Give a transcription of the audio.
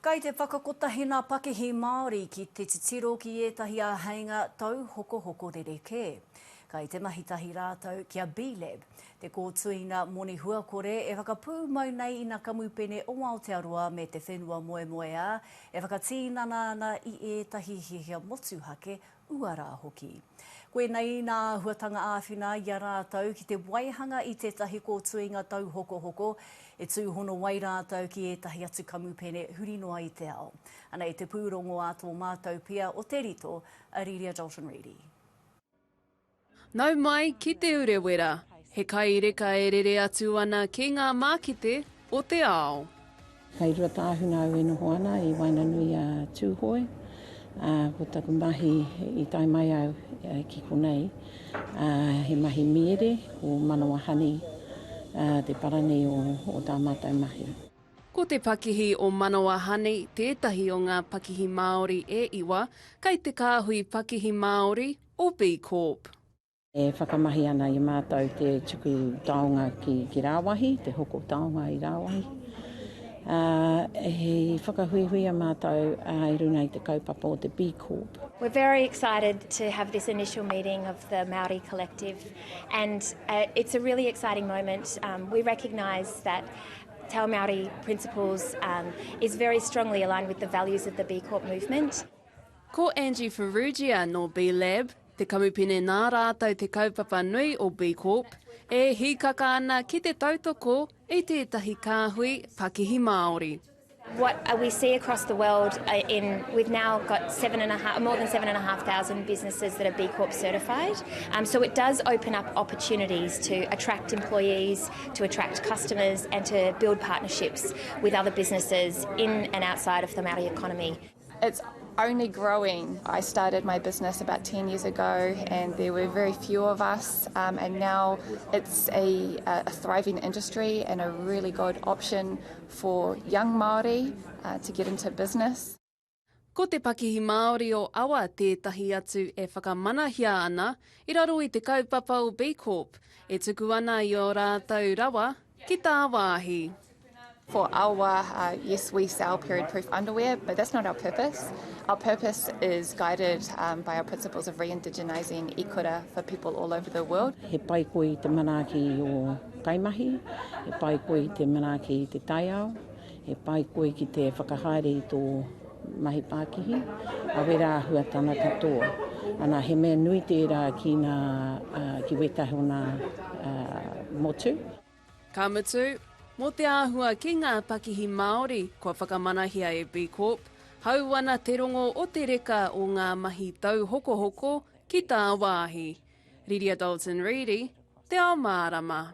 Kei te whakakotahi ngā pakihi Māori ki te titiro ki ētahi āheinga tauhokohoko rerekē. Kei te mahi tahi rātou ki a B-Lab, te kōtuinga moni huakore e whakapūmau nei ina kamupene o Aotearoa me te whenua moemoeā e whakatīnana ana i ētahi hiahia motuhake uara hoki. Koinei nā āhuatanga āwhina i a rātou ki te waihanga i tētahi kōtuinga tauhokohoko e tūhono ai rātou ki ētahi atu kamupene huri noa i te ao. Anei te pūrongo a tō mātou pia o Te Rito, a Riria Dalton Reidy. Nau mai ki Te Urewera, he kai reka e rere atu ana ki ngā mākete o te ao. Kei Ruatāhuna au e noho ana i waenganui a Tūhoe, ā, ko taku mahi i tae mai au ki konei, ā, he mahi mīere, ko Manawa Honey, ā, te para nei o, o tā mātou mahi. Ko te pakihi o Manawa Honey tētahi o ngā pakihi Māori e iwa, kei te kāhui pakihi Māori, or B Corp. E whakamahi ana i mātou te tuku taonga ki rāwahi, te hoko taonga i rāwahi. He whakahuihuia mātou i runga i te kaupapa o te B Corp. We're very excited to have this initial meeting of the Māori Collective and it's a really exciting moment. We recognise that Te Ao Māori principles is very strongly aligned with the values of the B Corp movement. Ko Angie Farrugia nō B Lab te kamupene nā rātou te kaupapa nui o B Corp e hīkaka ana ki te tautoko i tētahi kāhui pakihi Māori. What we see across the world in, we've now got seven and a half, more than seven and a half thousand businesses that are B Corp certified. Um, so it does open up opportunities to attract employees, to attract customers, and to build partnerships with other businesses in and outside of the Māori economy. It's only growing. I started my business about 10 years ago and there were very few of us um, and now it's a, a thriving industry and a really good option for young Māori uh, to get into business. Ko te pakihi Māori o Awa tētahi atu e whakamanahia ana i raro i te kaupapa o B Corp e tuku ana i ō rātou rawa Ki tā wāhi. For our wā, yes we sell period proof underwear but that's not our purpose. Our purpose is guided by our principles of re-indigenising i kura for people all over the world. He pai koe i te manaaki o kaimahi, he pai koe i te manaaki i te taiao. He pai koe ki te whakahaere i tō mahi pākihi, a wera āhua tana katoa. Ana, he mea nui tērā ki nā, ki wētahi o nā motu. Ka mutu, mō te āhua ki ngā pakihi Māori kua whakamanahia e B Corp, hau ana te rongo o te reka o ngā mahi tauhokohoko ki tāwāhi. Riria Dalton Reedy, Te Ao Mārama.